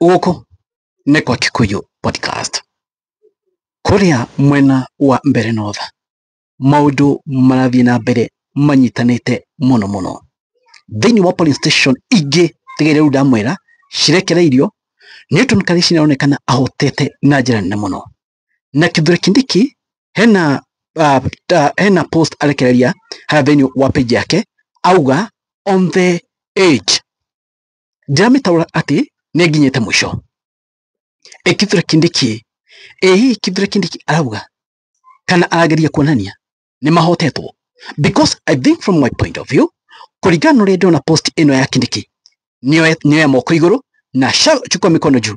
Gũkũ nĩ kwa Kikuyu Podcast. Kũrĩa mwena wa mbere north, maũndũ marathiĩ na mbere manyitanĩte mũno mũno. Thĩinĩ wa polling station ingĩ tiga iria rĩu ndamwĩra cirekereirio, Newton Kariuki nĩaronekana ahotete na njĩra nene mũno. Na Kithure Kindiki hena uh, uh, hena post arekereria harĩa thĩinĩ wa page yake auga on the age ndiramĩtaũra atĩ nĩ nginyĩte mũico ĩ kithure kindiki ĩ hihi kithure kindiki arauga kana arageria kuonania nĩ mahotetwo because i think from my point of view kũringana na ũrĩa ndĩrona post ĩno ya kindiki nĩoya moko igũrũ na chukua mikono juu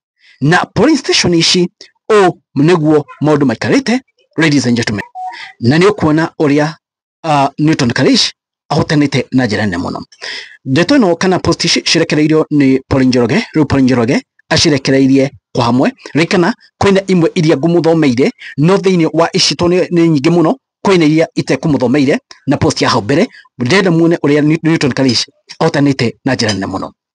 na polling station ici ũũ nĩguo maũndũ maikarĩte ladies and gentlemen na nĩ ũkuona ũrĩa uh, Newton Karish ahotanĩte na njĩra nene mũno ndeto ĩno kana post ici cirekereirio nĩ Paul Njoroge rĩu Paul Njoroge acirekereirie kwa hamwe rĩkana kwĩna imwe iria ngũmũthomeire no thĩinĩ wa ici to nĩ nĩ nyingĩ mũno kwĩna iria itekũmũthomeire na post ya hau mbere ndĩrenda muone ũrĩa Newton Karish ahotanĩte na njĩra nene mũno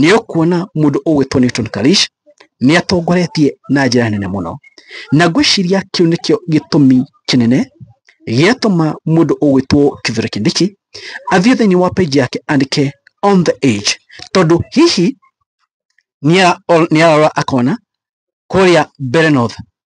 nĩ ũkuona mũndũ ũgwĩtwo Newton Kalish nĩ atongoretie na njĩra nene mũno, na ngwĩciria kĩu nĩkĩo gĩtũmi kĩnene gĩatũma mũndũ ũgwĩtwo Kithure Kindiki athiĩ thĩinĩ wa page yake andĩke on the age, tondũ hihi nĩ ararora akona kũrĩa Mbeere North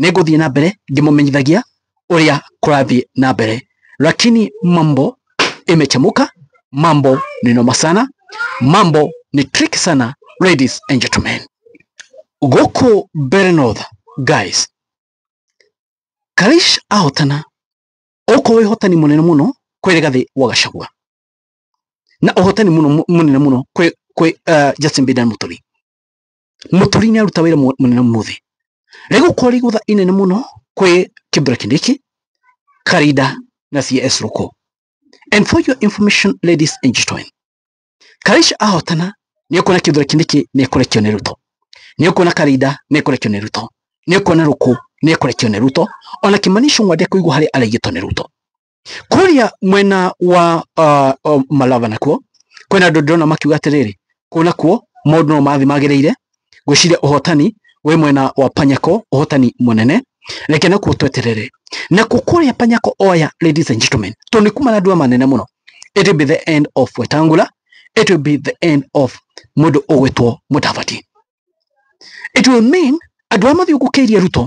nĩ ngũthiĩ na mbere ngĩmũmenyithagia ũrĩa kũrathiĩ na mbere lakini mambo imechemuka mambo ni noma sana mambo ni trick sana ladies and gentlemen gũkũ mbere north guys karish ahotana ũkũ wĩ hotani mũnene mũno kwĩ rĩgathĩ wa gacagua na ũhotani mũno mũnene mũno kwĩ kwĩ uh, Justin Biden Mũturi Mũturi nĩ aruta wĩra mũnene ũmũthĩ. Rĩgũkorwo rĩ igũtha inene mũno kwĩ kĩmbura kĩnĩkĩ, Karinda na CS Rũkũ. And for your information ladies and gentlemen, Karaica ahotana nĩ ũkuona kĩmbura kĩnĩkĩ nĩ ekũrekio nĩ Ruto. Nĩ ũkuona Karinda nĩ ekũrekio nĩ Ruto. Nĩ ũkuona Rũkũ nĩ ekũrekio nĩ Ruto. Ona Kimani Ichung'wa ndekũigua harĩa araigĩtwo nĩ Ruto. kũrĩa mwena wa uh, uh, malava nakuo kwĩna andũ ndĩrona makiuga atĩrĩrĩ kũu nakuo maũndũ no mathi magĩrĩire ngwĩciria ũhotani wĩ mwena wa panyako ũhotani mũnene reke nakuo tweterere na kũkũrĩa panyako oya ladies and gentlemen to nĩ kuma na ndua manene mũno it will be the end of wetangula it will be the end of mũndũ ũgwĩtwo mũtavati it will mean andũ arĩa mathiũngũkĩirie Ruto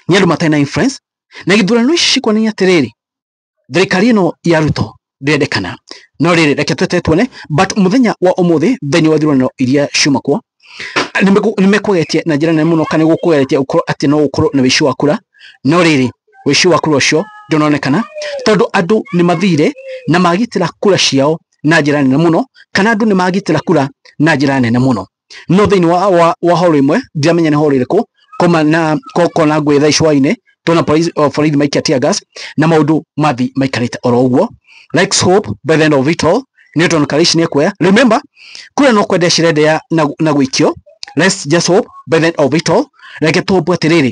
nĩ andũ matarĩ na influence na gĩthurano ici cikonania atĩrĩrĩ thirikari ĩno ya Ruto ndĩrendekana no rĩrĩ reke twete tuone but mũthenya wa ũmũthĩ thĩinĩ wa thurano iria ciuma kuo nĩ mekũgeretie na njĩra nene mũno kana nĩ gũkũgeretie gũkorwo atĩ no gũkorwo na wĩici wa kura no rĩrĩ wĩici wa kura ũcio ndũnonekana tondũ andũ nĩ mathire na magitĩra kura ciao na njĩra nene mũno kana andũ nĩ magitĩra kura na njĩra nene mũno no thĩinĩ wa, wa, wa horo ĩmwe ndiramenya nĩ horo ĩrĩkũ koma na ko- kona ngwĩ thaa icwainĩ tona borithi o, borithi maikia tear gas na maũndũ mathi maikarĩte oro ũguo likes hope by the end of it all newton karish nĩ kuoya remember kura no kwenda cirendea na, na gwĩkio let's just hope by the end of it all reke tũhope atĩrĩrĩ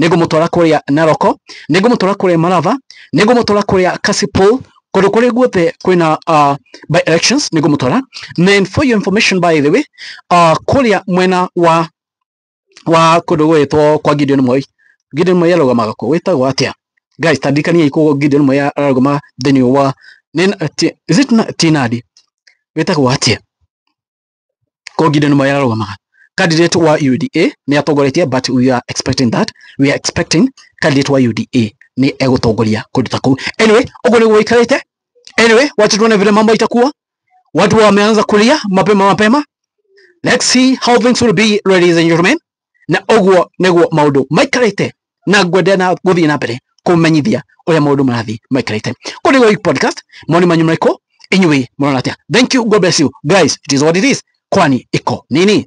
nĩngũmũtwara kũrĩa Naroko, nĩngũmũtwara kũrĩa Malava, nĩngũmũtwara kũrĩa Kasipul, kũndũ kũrĩa guothe kwĩna uh, by elections nĩngũmũtwara. Then for your information by the way, uh, kũrĩa mwena wa wa kũndũ gwĩtwo kwa Gideon Moi, Gideon Moi arũgamaga kũ wĩtagwo atĩa? Guys, tandikaniai kũ Gideon Moi arũgama thĩinĩ wa is it Tinadi wĩtagwo atĩa? Kogide nĩmo yararũgamaga candidate wa UDA nĩ atongoretie but we are expecting that we are expecting candidate wa UDA nĩ egũtongoria kũndũ ta kũu anyway ũguo nĩguo gũikarĩte anyway wacha tuone vile mambo itakuwa watu wameanza kulia mapema mapema let's see how things will be ladies and gentlemen na ũguo nĩguo maũndũ maikarĩte na ngwenderea na gũthiĩ na mbere kũmenyithia ũrĩa maũndũ marathiĩ maikarĩte kũu nĩguo Geek podcast moni manyu marĩkũ inyuĩ mũrona atĩa thank you god bless you guys it is what it is kwani iko nini